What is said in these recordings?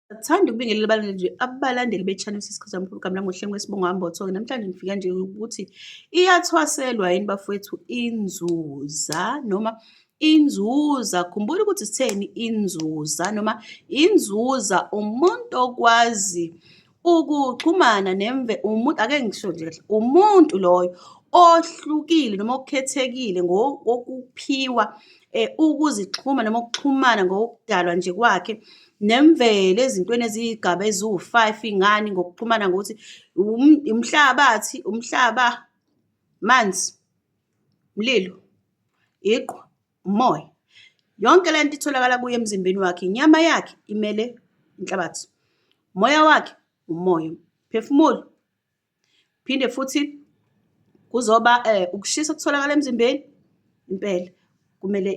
Sithanda ukubingelela abalandeli abalandeli be-Channel Sisikhathi Samkhulu Gamla ngohlelo ngesibongo Ambotho. Namhlanje ngifika nje ukuthi iyathwaselwa yini bafowethu inzuza noma inzuza. Khumbula ukuthi sitheni inzuza noma inzuza umuntu okwazi ukuxhumana nemve umuntu ake ngisho nje kahle umuntu loyo ohlukile noma okhethekile ngokuphiwa eh, ukuzixhuma noma ukuxhumana ngokudalwa nje kwakhe nemvelo ezintweni eziyigaba eziwu-five ingani ngokuxhumana ngokuthi umhlabathi umhlaba manzi mlilo iqhwa umoya yonke le nto itholakala kuye emzimbeni wakhe inyama yakhe imele inhlabathi umoya wakhe umoya phefumulo Phinde futhi kuzoba ukushisa okutholakala emzimbeni impela kumele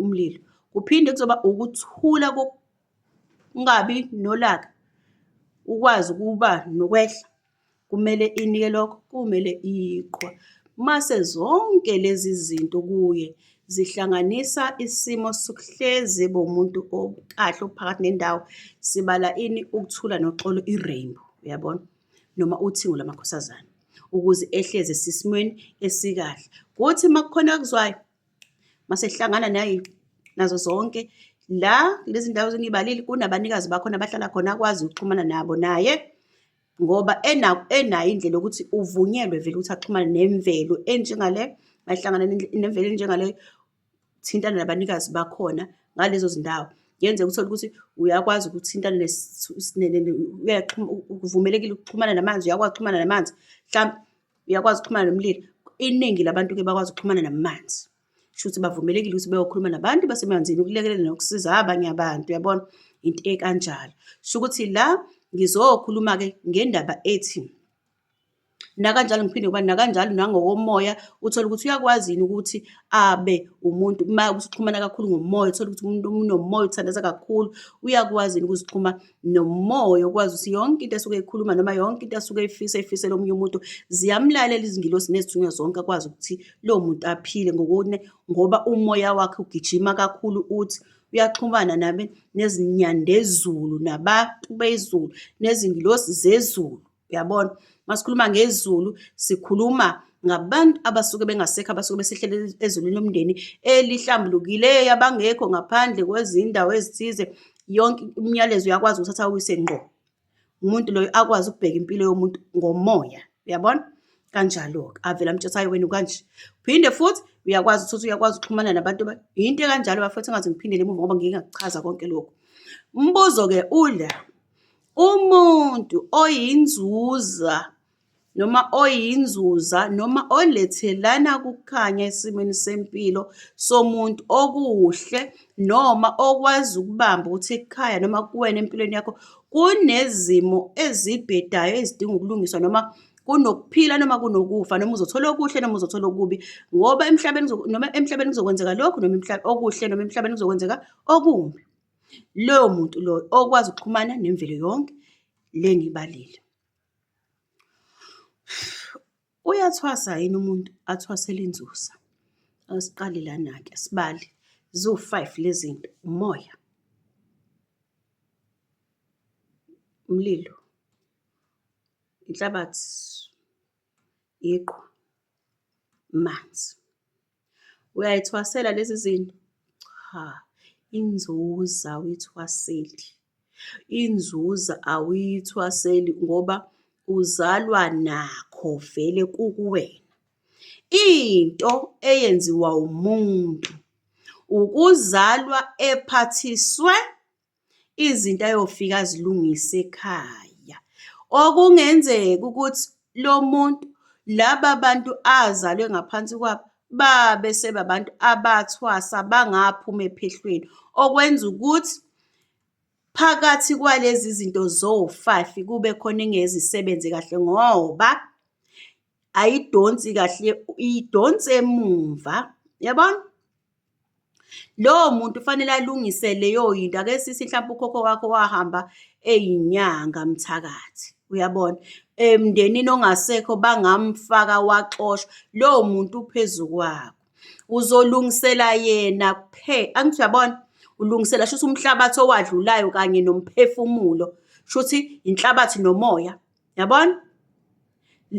umlilo. Kuphinde kuzoba ukuthula kokungabi nolaka, ukwazi ukuba nokwehla kumele inike lokho, kumele iqhwa. Mase zonke lezi zinto kuye zihlanganisa isimo sokuhlezi bomuntu okahle ophakathi nendawo. Sibala ini? Ukuthula noxolo, i-rainbow, uyabona? noma uthingo lamakhosazana ukuze ehleze sisimweni esikahle. Kuthi uma kukhona akuzwayo masehlangana naye nazo zonke la lezi ndawo zengibalile kunabanikazi bakhona abahlala khona akwazi ukuxhumana nabo naye ngoba enayo indlela yokuthi uvunyelwe vele ukuthi axhumane nemvelo enjengale mahlangana nemvelo enjengaleyo ukuthintana nabanikazi bakhona ngalezo zindawo. Kuyenzeka uthole ukuthi uyakwazi ukuthintana uvumelekile ukuxhumana namanzi, uyakwazi ukuxhumana namanzi, hlampe uyakwazi ukuxhumana nomlilo. Iningi labantu-ke bakwazi ukuxhumana namanzi, kushuthi bavumelekile ukuthi bayokhuluma nabantu basemanzini ukulekelela nokusiza abanye abantu, uyabona? Into ekanjalo. Kushukuthi la ngizokhuluma-ke ngendaba ethi. Nakanjalo ngiphinde ngibani, nakanjalo nangokomoya uthole ukuthi uyakwazi yini ukuthi abe umuntu uma usuxhumana kakhulu ngomoya, uthole ukuthi umuntu unomoya uthandaza kakhulu, uyakwazi yini ukuzixhuma nomoya okwazi ukuthi yonke into asuke eyikhuluma noma yonke into asuke eyifisa eyifisela omunye umuntu ziyamlalela izingilosi nezithunywa zonke akwazi ukuthi lowo muntu aphile ngokune ngoba umoya wakhe ugijima kakhulu uthi uyaxhumana nabe nezinyandezulu nabantu bezulu nezingilosi zezulu. Uyabona? Uma sikhuluma ngezulu, sikhuluma ngabantu abasuke bengasekho abasuke besehlele ezulwini lomndeni elihlambulukileyo abangekho ngaphandle kwezindawo ezithize yonke umyalezo uyakwazi ukuthatha uyise ngqo umuntu loyo akwazi ukubheka impilo yomuntu ngomoya uyabona kanjalo-ke avela mtshathayo wenu kanje phinde futhi uyakwazi ukuthi uyakwazi ukuxhumana nabantu yinto ekanjalo bafethu engaze ngiphindele emuva ngoba ngike ngakuchaza konke lokhu umbuzo-ke ula Umuntu oyinzuza noma oyinzuza noma olethelana kukhanya esimweni sempilo somuntu okuhle noma okwazi ukubamba ukuthi ekhaya noma kuwena empilweni yakho kunezimo ezibhedayo ezidinga ukulungiswa noma kunokuphila noma kunokufa noma uzothola okuhle noma uzothola okubi ngoba emhlabeni noma emhlabeni kuzokwenzeka lokhu noma okuhle noma emhlabeni kuzokwenzeka okumbi. Loyo muntu loyo okwazi ukuxhumana nemvelo yonke le engiyibalile. Uyathwasa yini umuntu athwasele inzusa? Asiqale lana-ke asibale, ziwu-five le zinto, umoya, umlilo, inhlabathi, iqhwa, amanzi. Uyayithwasela lezi zinto? Cha, inzuza awuyithwaseli. Inzuza awuyithwaseli ngoba uzalwa nakho vele kukuwena. Into eyenziwa umuntu ukuzalwa ephathiswe izinto ayofika azilungise ekhaya. Okungenzeka ukuthi lo muntu laba bantu azalwe ngaphansi kwabo babe sebabantu abathwasa bangaphuma ephehlweni okwenza ukuthi phakathi kwalezi zinto zowu-five kube khona engezisebenzi kahle ngoba ayidonsi kahle iyidonsi emumva yabona lowo muntu ufanele alungise leyo yinto ake sisi mhlawumbe ukhokho wakho wahamba eyinyanga mthakathi uyabona emndenini ongasekho bangamfaka waxoshwa lowo muntu uphezu kwakho uzolungisela yena kuphela angithi uyabona ulungisela shuthi umhlabathi owadlulayo kanye nomphefumulo shuthi inhlabathi nomoya Yabona?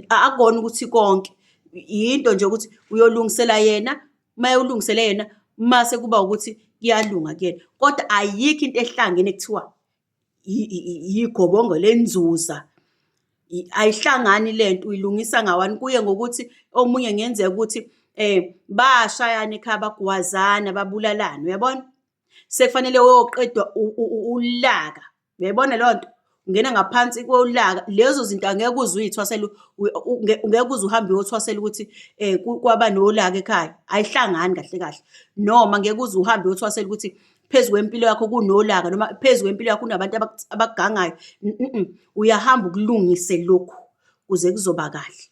Akukona ukuthi konke yinto nje ukuthi uyolungisela yena uma ulungisele yena mase kuba ukuthi kuyalunga kuyena kodwa ayikho into ehlangene kuthiwa yigobongo lenzuza ayihlangani lento uyilungisa ngawani kuye ngokuthi omunye ngenzeka ukuthi eh bashayana ekhaya bagwazana babulalana uyabona sekufanele uyoqedwa ulaka uyayibona leyo nto ungena ngaphansi kolaka lezo zinto angeke uze uyithwasele ngeke uze uhambe uyothwasela ukuthi um kwaba nolaka ekhaya ayihlangani kahle kahle noma ngeke uze uhambe uyothwasela ukuthi phezu kwempilo yakho kunolaka noma phezu kwempilo yakho kunabantu abakugangayo uyahamba ukulungise lokhu kuze kuzoba kahle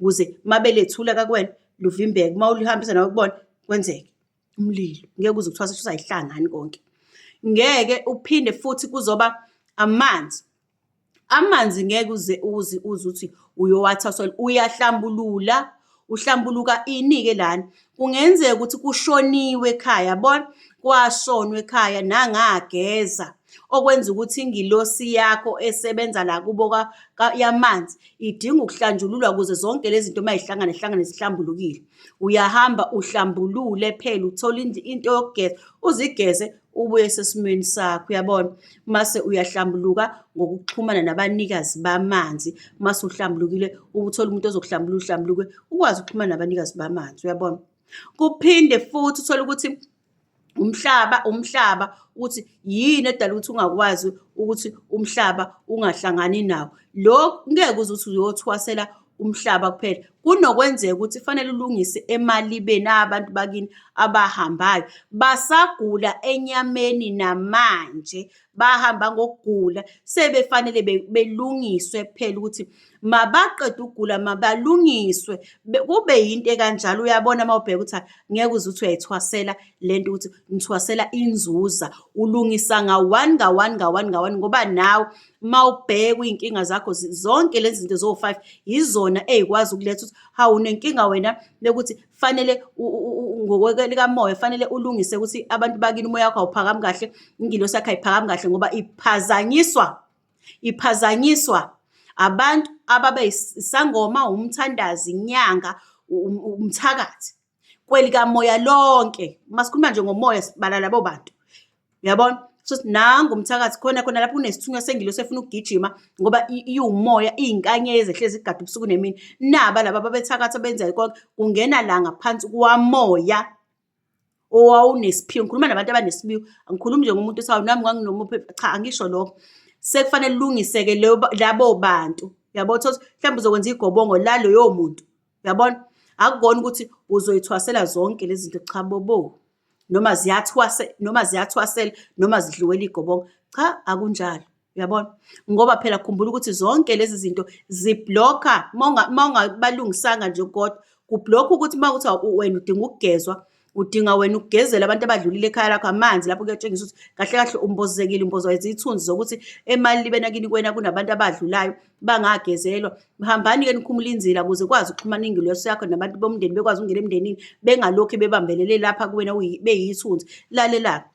ukuze uma belethula kakuwena luvimbeke uma ulihambisa nawe kubona kwenzeke umlilo ngeke uze kuthiwa sesisayihlangani konke ngeke uphinde futhi kuzoba amanzi amanzi ngeke uze uzi uze ukuthi uyowathathela uyahlambulula uhlambuluka ini-ke lana kungenzeka ukuthi kushoniwe ekhaya bona kwashonwa ekhaya nangageza okwenza ukuthi ingilosi yakho esebenza la kubo yamanzi idinga ukuhlanjululwa ukuze zonke lezi zinto uma zihlangana zihlangane zihlambulukile Uyahamba uhlambulule phela uthole into yokugeza uzigeze ubuye sesimweni sakho uyabona mase uyahlambuluka ngokuxhumana nabanikazi bamanzi mase uhlambulukile ubuthole umuntu ozokuhlambulula uhlambuluke ukwazi ukuxhumana nabanikazi bamanzi uyabona kuphinde futhi uthole ukuthi umhlaba umhlaba ukuthi yini edala ukuthi ungakwazi ukuthi umhlaba ungahlangani nawo lo ngeke uze uthi uyothwasela umhlaba kuphela kunokwenzeka ukuthi fanele ulungise emalibeni abantu bakini abahambayo basagula enyameni namanje bahamba ngokugula sebefanele belungiswe kuphela ukuthi mabaqede ukugula mabalungiswe kube yinto ekanjalo uyabona uma ubheka ukuthi ngeke uze uthi uyayithwasela le nto ukuthi ngithwasela inzuza ulungisa nga-one nga-one nga-one nga-one ngoba nawe uma ubhekwa iy'nkinga zakho zonke lezi zinto zowu-five yizona ey'kwazi ukuletha ukuthi hawu unenkinga wena lekuthi fanele ngokwelikamoya fanele ulungise ukuthi abantu bakini umoya wakho awuphakami kahle ingilosi yakho ayiphakami kahle ngoba iphazanyiswa Iphazanyiswa abantu ababe isangoma, umthandazi, inyanga, umthakathi kwelikamoya lonke. Uma sikhuluma nje ngomoya sibala labo bantu. Uyabona? Shuthi nangu umthakathi khona khona lapho kunesithunywa sengilosi efuna ukugijima ngoba iwumoya, iyinkanyezi ehlezi igada ubusuku nemini. Naba laba ababethakatha benza konke, kungena la ngaphansi kwamoya owawunesiphiwo ngikhuluma nabantu abanesiphiwo angikhulumi nje ngomuntu sawo nami nganginomuphi cha angisho lokho sekufanele lilungiseke labo bantu yabo thothi mhlawumbe uzokwenza igobongo la loyo muntu yabona akukona ukuthi uzoyithwasela zonke lezi zinto cha bobo noma ziyathwase noma ziyathwasela noma zidliwela igobongo cha akunjalo uyabona ngoba phela khumbula ukuthi zonke lezi zinto ziblokha uma ungabalungisanga nje kodwa kublokha ukuthi uma kuthiwa wena udinga ukugezwa udinga wena ukugezela abantu abadlulile ekhaya lakho amanzi lapho kuyatshengisa ukuthi kahle kahle umbozekile umbozwa izithunzi zokuthi emali libe nakini kwena kunabantu abadlulayo bangagezelwa hambani-ke nikhumula inzila ukuze kwazi ukuxhumana ingilosi yakho nabantu bomndeni bekwazi ukungena emndenini bengalokhu bebambelele lapha kuwena beyithunzi lalela-ke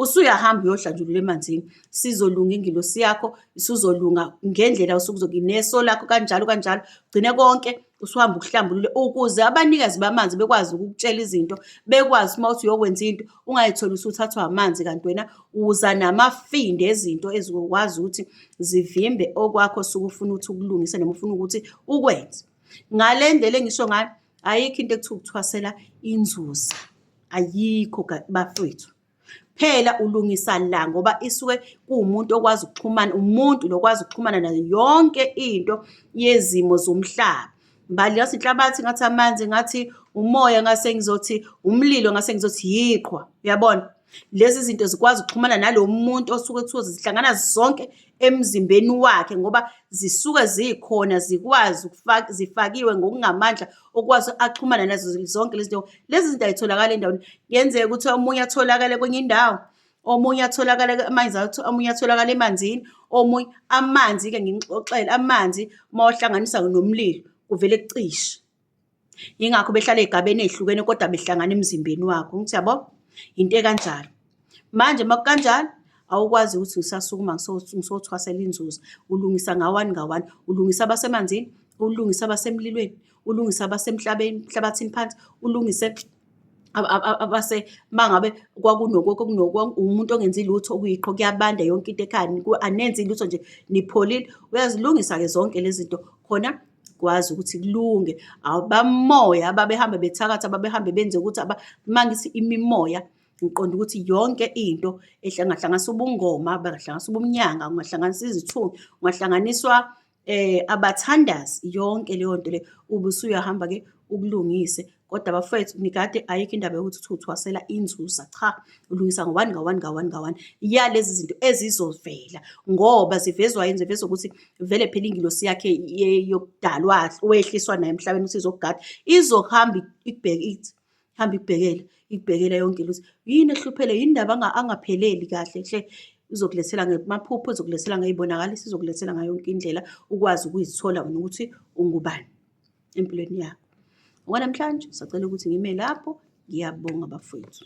usuyahamba uyohlanjulula emanzini sizolunga ingilosi yakho isuzolunga ngendlela usukuzoki neso lakho kanjalo kanjalo gcine konke usuhamba ukuhlambulule ukuze abanikazi bamanzi bekwazi ukukutshela izinto bekwazi uma uthi uyokwenza into ungayitholi usuthathwa amanzi kanti wena uza namafinde ezinto ezikwazi ukuthi zivimbe okwakho sukufuna ukuthi ukulungise noma ufuna ukuthi ukwenze ngale ndlela engisho ngayo ayikho into ekuthiwa ukuthwasela inzuza ayikho bafethu phela ulungisa la ngoba isuke kuwumuntu okwazi ukuxhumana umuntu lokwazi ukuxhumana nayo yonke into yezimo zomhlaba mbali ngathi inhlabathi ngathi amanzi ngathi umoya ngase ngizothi umlilo ngase ngizothi yiqhwa uyabona lezi zinto zikwazi ukuxhumana nalo muntu osuke kuthiwa zihlangana zonke emzimbeni wakhe ngoba zisuke zikhona zikwazi zifakiwe ngokungamandla okwazi axhumana nazo zonke lezi zinto lezi zinto ayitholakala endaweni kuyenzeka ukuthi omunye atholakale kwenye indawo omunye atholakala amanzi omunye atholakala emanzini omunye amanzi-ke ngingixoxele amanzi uma wahlanganisa nomlilo kuvele kucishe yingakho behlala ey'gabeni ey'hlukene kodwa behlangana emzimbeni wakho ngithi yabo yinto ekanjalo Manje makukanjani awukwazi ukuthi ngisasukuma ngisothwasela inzuzo ulungisa ngawani ngawani ulungisa abasemanzini ulungisa abasemlilweni ulungisa abasemhlabeni emhlabathini phansi ulungise abase mangabe kwakunoko kunoko umuntu ongenzi lutho kuyiqho kuyabanda yonke into ekhaya anenzi lutho nje nipholile uyazilungisa ke zonke lezi zinto khona kwazi ukuthi kulunge abamoya ababehambe bethakatha ababehambe benze ukuthi uma ngithi imimoya Ngiqonda ukuthi yonke into ehlanganisa ubungoma, bangahlanganisa ubumnyanga, ungahlanganisa izithunywa, ungahlanganiswa eh abathandazi yonke leyo nto le ubusuyahamba ke ukulungise kodwa bafethu nikade ayikho indaba yokuthi uthi uthwasela inzuza cha ulungisa ngowani ngawani ngawani ngawani ya lezi zinto ezizovela ngoba zivezwa yini zivezwa ukuthi vele phela ingilosi yakhe yokudalwa wehliswa naye emhlabeni ukuthi izokugada izohamba ikubheke ithi hamba ikubhekele ikubhekela yonke into ukuthi yini ehluphele yini ndaba angapheleli kahle hle uzokulethela ngemaphupho uzokulethela ngey'bonakaliso uzokulethela ngayo yonke indlela ukwazi ukuyithola wena ukuthi ungubani empilweni yakho okwanamhlanje sacela ukuthi ngime lapho ngiyabonga bafowethu